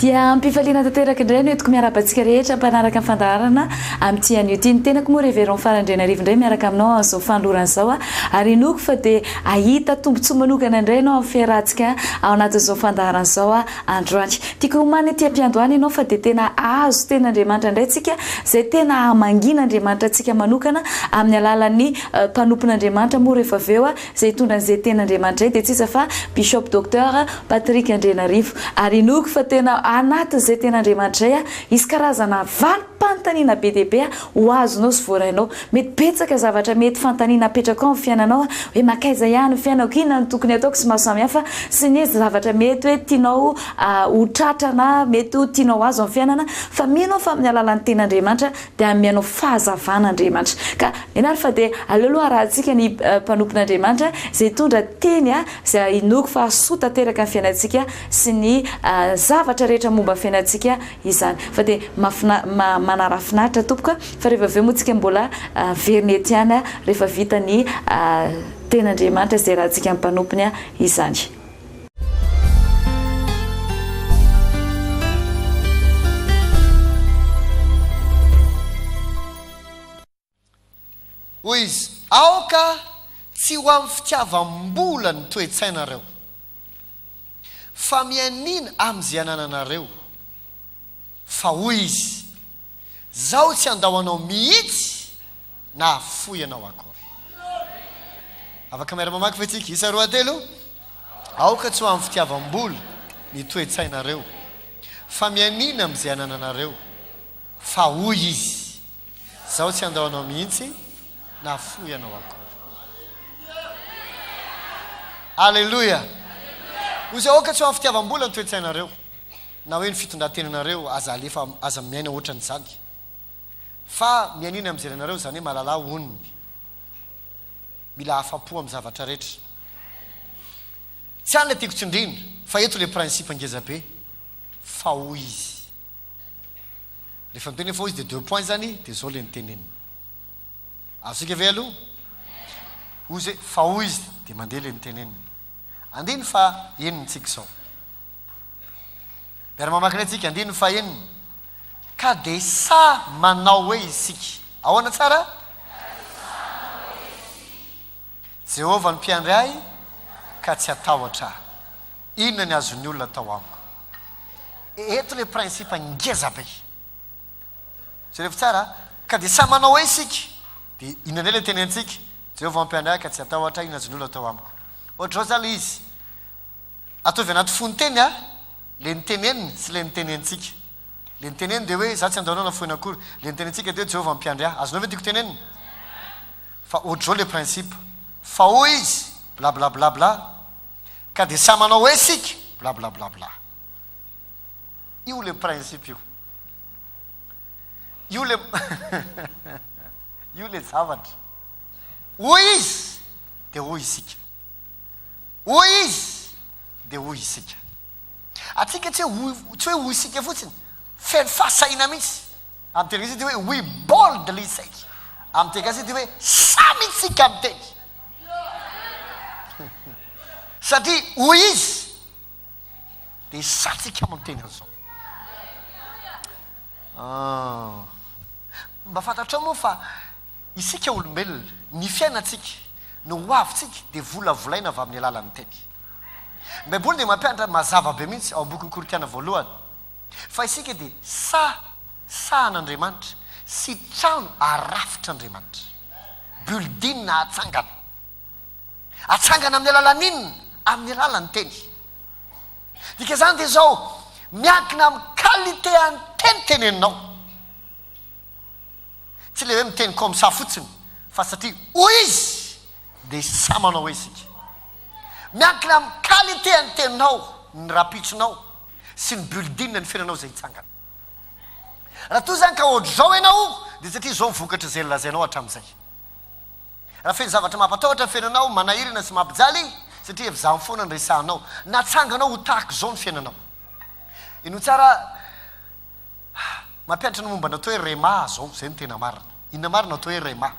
dia ampifaliana tanteraka indray no etiko miaraba antsika rehetra mpanaraka ny fandaharana amin'ity anio ity ny tenako moa reveron farandriana rivo indray miaraka aminao amin'izao fanolorana izao a ary inoako fa dia ahita tombontsoa manokana indray ianao amin'ny fiarahantsika ao anatin'izao fandaharana izao a Androany. Tiako homana ity ampiandohana ianao fa dia tena hahazo Tenin'Andriamanitra indray tsika, izay tena hamangian'Andriamanitra antsika manokana amin'ny alalan'ny mpanompon'Andriamanitra moa rehefa avy eo izay hitondra an'izay Tenin'Andriamanitra izay dia tsy iza fa Bishop Docteur Patrick Andrianarivo. Ary inoako fa tena anatin'izay Tenin'Andriamanitra izay hisy karazana valo. Panontaniana be dia be ho azonao sy voarainao. Mety betsaka zavatra mety fanontaniana apetrakao amin'ny fiainanao hoe mankaiza ihany ny fiainako, inona no tokony ataoko sy maro samihafa sy ny zavatra mety hoe tianao ho tratra na mety ho tianao ho azo amin'ny fiainana fa mino aho fa amin'ny alalan'ny tenin'Andriamanitra dia hanome anao fahazavana Andriamanitra ka mino ary fa dia aleo aloha harahantsika ny mpanompon'Andriamanitra izay hitondra teny izay inoako fa hahasoa tanteraka ny fiainantsika sy ny zavatra rehetra momba ny fiainantsika izany fa dia mafina manarafinaritra tompoko a fa rehefa avy eo moa tsika mbola averina ety ihany a rehefa vita ny tena Andriamanitra izay raha tsika mpanompony a izany. Hoy izy, Aoka tsy ho amin'ny fitiavam-bola ny toe-tsainareo, fa mianiana amin'izay anananareo. Fa hoy izy, Izaho tsy handao anao mihitsy na hahafoy anao akory. Afaka miara-mamaky ve isika? Isa, roa, telo. Aoka tsy ho amin'ny fitiavam-bola ny toe-tsainareo, fa mianiana amin'izay anananareo. Fa hoy izy. Izaho tsy handao anao mihitsy na fohy ianao akory. Aleloia! Hoy Izy, Aoka tsy ho amin'ny fitiavam-bola ny toe-tsainareo, na hoe ny fitondran-tenanareo, aza alefa, aza miaina hoatran'izany. Fa mianiana amin'ny jerenareo, izany hoe malalà onony. Mila afa-po amin'ny zavatra rehetra. Tsy any ilay tiako tsindrina, fa eto ilay principe ngeza be. Fa hoy Izy. Rehefa miteny hoe faux izy dia deux points zany dia zao le ny teneniny. Azontsika ve aloha? Hoy izy hoe faux izy dia mandeha le ny teneniny. Andihy ny faha eniny tsika izao. Miara mamaky indray tsika andihy ny faha eniny. Ka dia sa manao hoe isika. Ahoana tsara? Jehovah no mpiandry ahy ka tsy hatahotra aho. Inona ny azon'ny olona atao amiko? Eto ilay principe ngeza be. Jereo tsara, ka dia samy manao hoe isika. Dia inona indray ilay tenentsika? Jehovah no mpiandry ahy ka tsy hatahotra aho, inona azon'ny olona atao amiko? Ohatr'izao izany ilay izy. Ataovy anaty fonon-teny a, ilay niteneniny sy ilay nitenentsika. Ilay niteneniny dia hoe, izaho tsy handao anao na foana akory. Ilay nitenentsika dia hoe, Jehovah no mpiandry ahy. Azonao ve ny tiako tenenina? Fa otrzao le principe fa hoy izy blablablabla ka de sa manao hoe sika blablablabla. Io le principe io. Io le io le zavatra. Hoy izy de hoy isika. Hoy izy de hoy isika. Antsika tsy hoe tsy hoe hoy isika fotsiny feno fahasahiana mihitsy. Anterisy ity hoe we boldly say. Amin'ny teny gasy ity hoe samy isika miteny. Satria hoy izy dia santsika miteny an'izao. Ah. Mba fantatrao moa fa isika olombelona, ny fiainantsika, ny hoavintsika dia volavolaina avy amin'ny alalan'ny teny. Ny Baiboly dia mampianatra mazava be mihitsy ao amin'ny bokin'ny Korintiana voalohany. Fa isika dia saha sahan' Andriamanitra sy trano arafitr' Andriamanitra, building atsangana. Atsangana amin'ny alalan' inona? Amin'ny alalan' ny teny. Dikan'izany dia izao, miankina amin'ny qualité an' ny teny teneninao. Tsy ilay hoe miteny comme ça fotsiny, fa satria hoy Izy, dia saha manao hoe isika. Miankina amin'ny qualité an' ny teninao ny rapitrinao. sy ny building ny fiainanao izay hitsangana. Raha toa izany ka ohatr'izao ianao, dia satria izao ny vokatra izay nolazainao hatramin'izay. Raha feno zavatra mampatahotra ny fiainanao, manahirana sy mampijaly, satria efa izany foana no resahanao. Natsanganao ho tahaka izao ny fiainanao. Inoa tsara, mampianatra ny momba ny atao hoe rhema izao, izay no tena marina. Inona marina ny atao hoe rhema?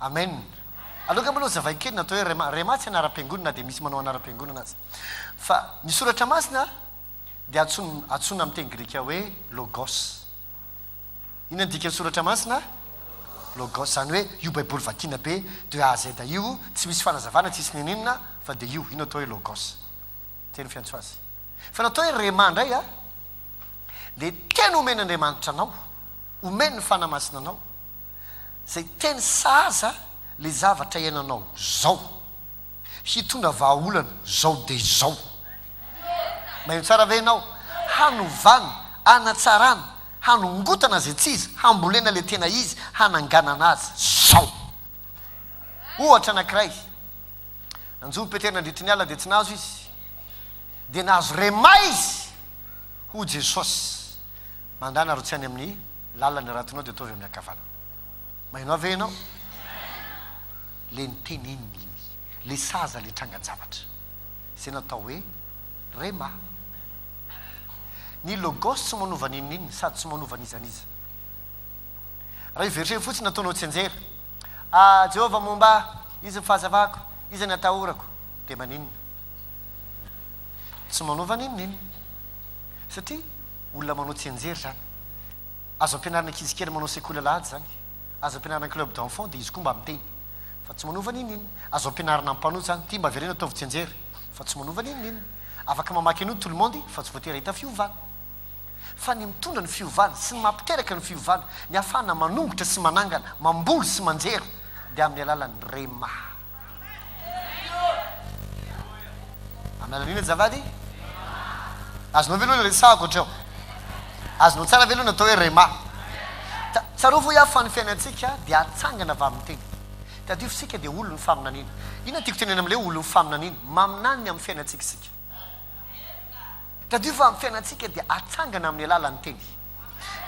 Amen. Aloka maloha zavaiko kely natao hoe rhema. Rhema tsy anaram-piangonana dia misy manao anaram-piangonana aza. Fa ny soratra masina dia antsoina antsoina amin'ny teny grika hoe logos. Inona ny dikan'ny soratra masina? Logos izany hoe io baiboly vakina be de A à Z io tsy misy fanazavana tsisy n'inon'inona fa dia io, io no atao hoe logos. Zay no fiantso azy. Fa ny atao hoe rhema indray a dia teny omen'Andriamanitra anao, omen'ny fanahy masina anao. Zay teny sahaza le zavatra iananao zao hitondra vahaolana zao de zao. Maheno tsara ve enao? Hanovana, hanatsarana, hanongotana zay tsy izy, hambolena le tena izy, hananganana azy zao. Ohatra anakiray, nanjo ny Petera nandritry ny ala de tsy nahazo izy, de nahazo rema izy ho Jesosy. Mandana aro tsy any amin'ny lalana ny ratinao dia ataovy amin'ny ankavanana. Maheno ahy ve ianao? Ilay niteny iny, iny. Ilay sahaza ilay trangan-javatra. Izay natao hoe Rhema. Ny Logos tsy manova n'inona n'inona sady tsy manova n'iza n'iza. Raha io verset io fotsiny nataonao tsianjery, A Jehovah momba ahy, iza ny fahazavako, iza ny atahorako? dia maninona? Tsy manova n'inona n'inona. Satria. olona manao tsianjery zany. Azo ampianarina ankizy kely manao sekoly alahady zany. Azo ampianarina club d'enfants dia izy koa mba miteny fa tsy manova n'inon'inona. Azo ampianarina ampanoa zany. Ty mba avereno ataovy tsianjery fa tsy manova n'inon'inona. Afaka mamaky an'io tout le monde fa tsy voatery hahita fiovana. Fa ny mitondra ny fiovana sy ny mampiteraka ny fiovana, ny ahafahana manongotra sy manangana, mamboly sy manjera dia amin'ny alalan'ny rema. Amen anie azafady. Azonao ve aloha ny resahako hatreo? Azonao tsara ve aloha ny atao hoe rema? Tsarovy hoy aho fa ny fiainantsika dia atsangana vamin-teny. Tadidio fa isika dia olon'ny faminaniana. Inona no tiako tenenina amin'ilay hoe olon'ny faminaniana? Maminanina amin'ny fiainantsika isika. Tadidio fa ny fiainantsika dia atsangana amin'ny alalan'ny Teny.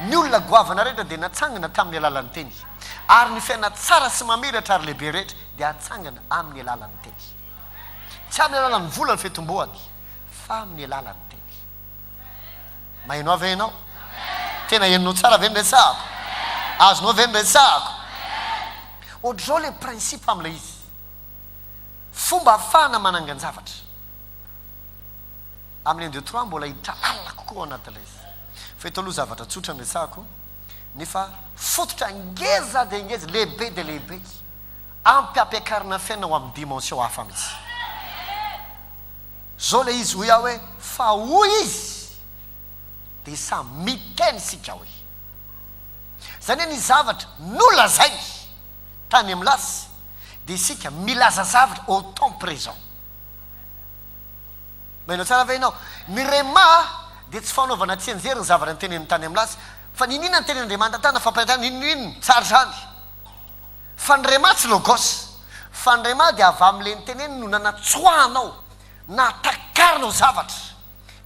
Ny olona goavana rehetra dia natsangana tamin'ny alalan'ny Teny. Ary ny fiainana tsara sy mamiratra ary lehibe rehetra dia atsangana amin'ny alalan'ny Teny. Tsy amin'ny alalan'ny vola ny fitomboany, fa amin'ny alalan'ny Teny. Maheno Ahy ve ianao? Tena henonao tsara ve ny resahako? Azonao ve ny resahako? Ohatr'izao ilay principe amin'ilay izy. Fomba afahana manangan-javatra. amin'ny un deux trois mbola hiditra lalina kokoa ao anatin'ilay izy. Fa eto aloha zavatra tsotra no resahako, nefa fototra ngeza dia ngeza, lehibe dia lehibe, ampy hampiakarina fiainana ho amin'ny dimension hafa mihitsy. Izao ilay izy, hoy aho hoe, fa hoy izy, dia samy miteny isika hoe. Izany hoe ny zavatra nolazainy tany amin'ny lasy dia isika milaza zavatra au temps présent. Mailo tsara ve ianao? Ny Rhema dia tsy fanaovana tsianjery ny zavatra notenenin'ny tany amin'ny laza. Fa niniana ny tenin'Andriamanitra tany amin'ny fampianarana inona inona. Tsara izany. Fa ny Rhema tsy Logos. Fa ny Rhema dia avy amin'ilay noteneniny no nanatsoahanao, nahatakarinao zavatra.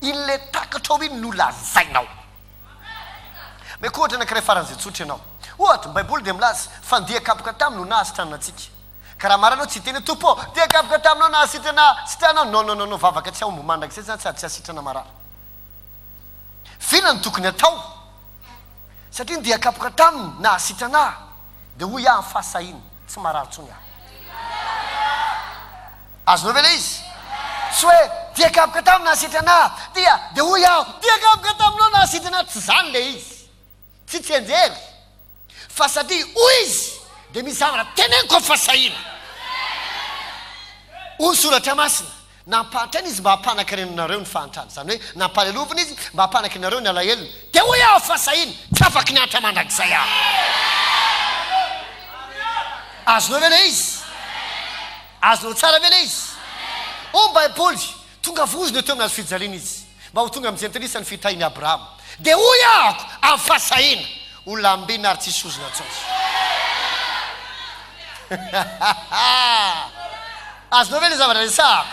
In'ilay takatro ao iny no lazainao. Omeko ohatra anankiray faran'izay tsotra ianao. Ohatra, ny Baiboly dia milaza fa ny dia kapoka taminy no nahasitranana antsika. Ka raha marina aho tsy hiteny hoe Tompo ô, dia gaboka taminao nahasitrana sitrana aho. Non non non vavaka tsy hahomby mandrakizay izany sady tsy hahasitrana marary. Vina no tokony hatao. Satria ndeha kapoka taminy nahasitrana ahy. Dia hoy aho fa sahiny, tsy marary intsony aho. Azonao ve ilay izy? Tsy hoe dia kapoka taminy nahasitrana ahy, dia dia hoy aho dia kapoka taminao nahasitrana ahy. Tsy izany ilay izy. Tsy tsenjero fa satria hoy izy dia misy zavatra teneniko aho fa sahina. Hoy ny soratra masina, nampahantraina izy mba hampanankarenanareo ny fahantrany, izany hoe nampalelovina izy mba hampanankarenareo ny alahelony. Dia hoy aho fa sahina, tsy afaky ny hantra mandrakizay aho. Azonao ve ilay izy? Azonao tsara ve ilay izy? Hoy ny Baiboly, Tonga vozona eo teo amin'ny hazo fijaliana izy, mba ho tonga amin'ny jentilisa ny fitahian'i Abrahama. Dia hoy ahako, Amin'ny fahasahiana, ho lambena ary tsy hisy ozona intsony. Azonao ve ilay zavatra resahako?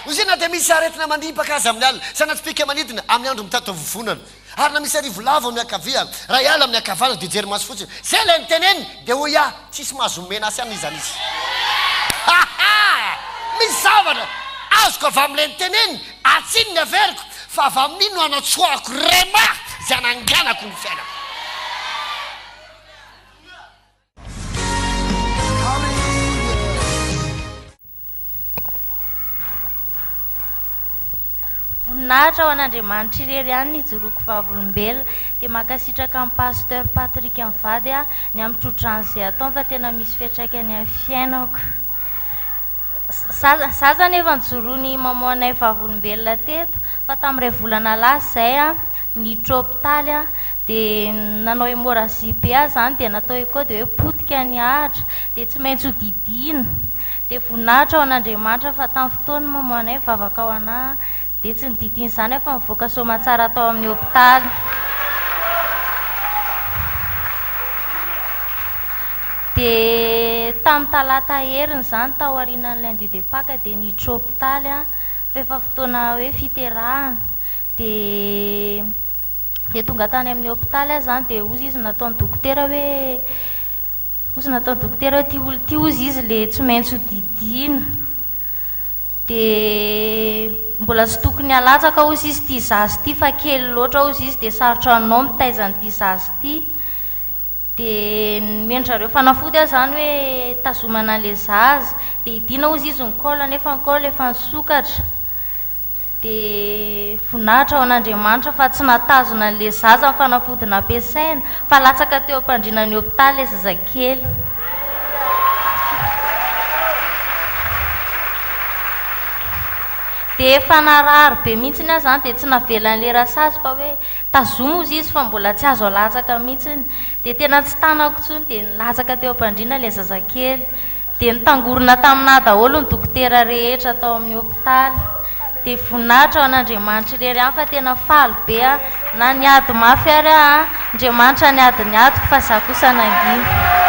Hoy izy hoe, Na dia misy aretina mandibaka aza amin'ny alina, sa na tsy pika manidina amin'ny andro mitady taovovonana, Ary na misy arivo lavo amin'ny ankavia, iray ala amin'ny ankavanana, dia hijery maso fotsiny. Izay ilay niteneniny, dia hoy aho, Tsisy mahazo omena ahy amin'izany izy. Ha! ha! Misy zavatra azoko avy amin'ilay niteneniny, ary tsy iny ny averiko, fa avy amin'iny no anatsoahako rhema izay ananganako ny fiainako. Voninahitra ho an'Andriamanitra irery ihany ny hijoroako vavolombelona. Dia mankasitraka an'i Pasteur Patrick mivady aho ny amin'ny trotrany izay ataony fa tena misy fiatraikany amin'ny fiainako. Zaza zaza anefa nijoroan'i Maman-nay vavolombelona teto fa tamin'iray volana lasa izay. ny tropitaly dia nanao hémorragie be ahy izany dia natao echo dia hoe potika ny ahitra dia tsy maintsy ho didiana dia voninahitra ho an'Andriamanitra fa tamin'ny fotoan'ny mamoanay vavaka ho anà dia tsy nodidiana izany aho fa nivoaka soamatsara tao amin'ny hopitaly dia tamin'ny talata heriny izany tao aorianan'ny lundi de paque dia ny tropitaly fa efa fotoana hoe fiterahana Dia dia tonga tany amin'ny hopitaly aho izany dia hozy izy nataon'ny dokotera hoe hozy nataon'ny dokotera hoe ity olona ity hozy izy ilay tsy maintsy hodidiana. Dia mbola tsy tokony halatsaka hozy izy ity zaza ity fa kely loatra hozy izy dia sarotra anao mitaiza an'ity zaza ity. Dia nomeny zareo fanafody aho izany hoe hitazomana an'ilay zaza. Dia hidiana hozy izy ny col nefa ny col efa nisokatra. Dia voninahitra ho an'Andriamanitra fa tsy nahatazona an'ilay zaza ny fanafody nampiasaina, fa latsaka teo am-pandriana ny hopitaly ilay zazakely. Dia efa narary be mihitsy aho izany, dia tsy navelan'ilay rasazy fa hoe, Tazomy hozy izy fa mbola tsy azo alatsaka mihitsy. Dia tena tsy tanako intsony, dia nilatsaka teo am-pandriana ilay zazakely. Dia nitangorona taminà daholo ny dokotera rehetra tao amin'ny hopitaly. Dia voninahitra ho an'Andriamanitra irery ihany fa tena faly be aho. Na niady mafy ary aho, Andriamanitra niady ny adiko fa izaho kosa nangina.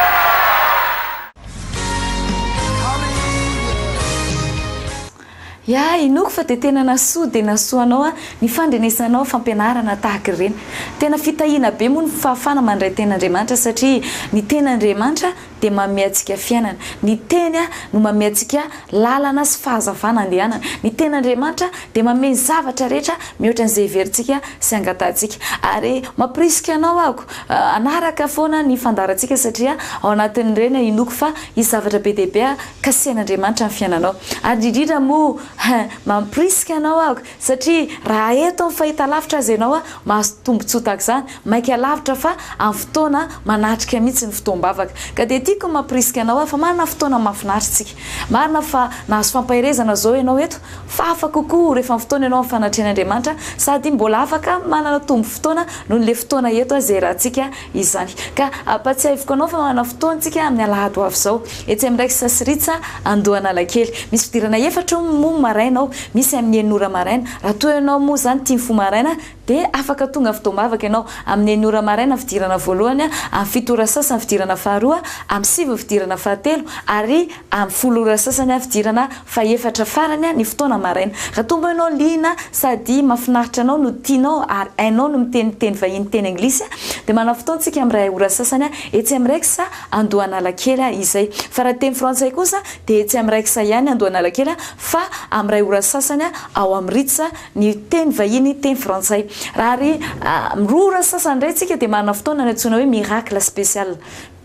Ya inoako fa dia tena nasoa dia nasoa anao an ny fandrenesanao fampianarana tahaka ireny. Tena fitahiana be moa ny fahafana mandray teny Andriamanitra satria ny teny Andriamanitra dia manome antsika fiainana. Ny teny an no manome antsika lalana sy fahazavana andehanana. Ny teny Andriamanitra dia manome ny zavatra rehetra mihoatra an'izay heverintsika sy angatahantsika. Ary mampirisika anao ako hanaraka foana ny fandaharantsika satria ao anatin'ireny an inoako fa hisy zavatra be dia be Kasen'Andriamanitra ny fiainanao. Ary indridrindra moa hein, mampirisika anao aho satria raha eto amin'ny fahitalavitra aza ianao mahazo tombontsoa tahaka izany, maika lavitra fa amin'ny fotoana manatrika mihitsy ny fotoam-bavaka. Ka dia tiako ny mampirisika anao aho fa manana fotoana mahafinaritra isika. Marina fa nahazo fampaherezana izao ianao eto fa hafa kokoa rehefa mifotoana ianao amin'ny fanatrehan'Andriamanitra sady mbola afaka manana tombom-potoana noho ilay fotoana eto aza iarahantsika izany. Ka ampatsiahiviko anao fa manana fotoana tsika amin'ny alahady ho avy izao, etsy amin'ny Rex sy Ritz Andohanalakely. Misy fidirana efatra io moa maraina ao, misy amin'ny enina ora maraina. Raha toa ianao moa izany tia mifoha maraina dia afaka tonga avy tao am-bavaka ianao. Amin'ny enina ora maraina fidirana voalohany, amin'ny fito ora sasany fidirana faharoa, amin'ny sivy ny fidirana fahatelo ary Any folo ora sasany avy idirana fa efatra farany ny fotoana maraina. Raha toa mbô ianao liana sady mafinaritra anao no tianao ary hainao ny miteny teny vahiny teny anglisy dia manao fotoantsika amin'ny iray ora sasany etsy amin'ny rex Andohanalakely izay. Fa raha teny frantsay kosa dia etsy amin'ny rex ihany Andohanalakely fa amin'ny iray ora sasany ao amin'ny ritz ny teny vahiny teny frantsay. Raha ary amin'ny roa ora sasany indray tsika dia manana fotoana antsoina hoe miracle spécial.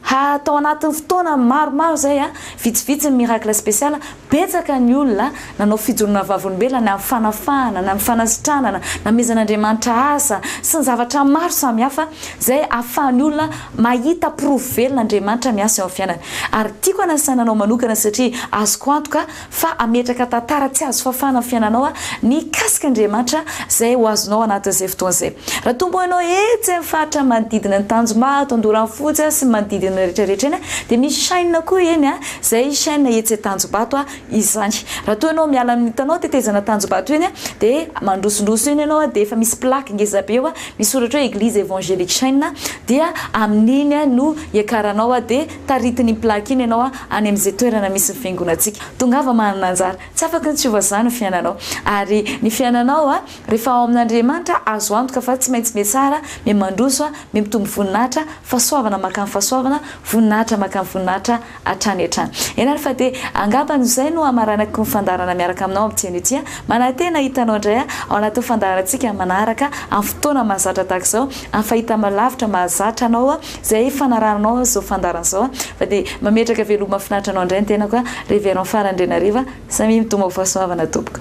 Ha tao anatin'ny fotoana maromaro izay a, vitsivitsy ny miracle special, betsaka ny olona nanao fijoroana vavolombelona ny amin'ny fanafahana, ny amin'ny fanasitranana, namezan'Andriamanitra asa, sy ny zavatra maro samihafa izay ahafahan'ny olona mahita porofo velona Andriamanitra miasa eo amin'ny fiainany. Ary tiako hanasaina anao manokana satria azoko antoka fa hametraka tantara tsy azo fafana ny fiainanao mikasika Andriamanitra izay ho azonao anatin'izay fotoana izay. Raha tomboanao etsy amin'ny faritra manodidina an'i Tanjombato, Andoranfotsy sy ny manodidina eny rehetra rehetra eny dia misy chaîne koa eny izay chaîne etsy Tanjombato izany. Raha toa ianao miala amin'ny hitanao tetezana Tanjombato eny dia mandrosondroso eny ianao dia efa misy plaque ngeza be eo misy soratra hoe Eglise Evangelique Chaîne dia amin'iny no hiakaranao dia Taritin' iny plaque iny ianao any amin' izay toerana misy ny fiangonantsika. Tongava manana anjara. Tsy afaka ny tsy hova izany ny fiainanao. Ary ny fiainanao rehefa ao amin' Andriamanitra, azo antoka fa tsy maintsy mihatsara, mihamandroso, mihamitombo voninahitra, fahasoavana mankany fahasoavana, voninahitra mankany voninahitra hatrany hatrany. Ianareo fa dia angamba izay no hamaranako ny fandaharana miaraka aminao amin'ity anio ity. Manantena hahita anao indray aho ao anatin'ny fandaharantsika manaraka, amin'ny fotoana mahazatra tahaka izao, amin'ny fahitana lavitra mahazatra anao. Zay fanaranao zao fandaharana zao fa dia mametraka veloma mafinaritra anao indray ny tenako a Révérend Fara Andrianariva samia mitomao fahasoavana tompoko.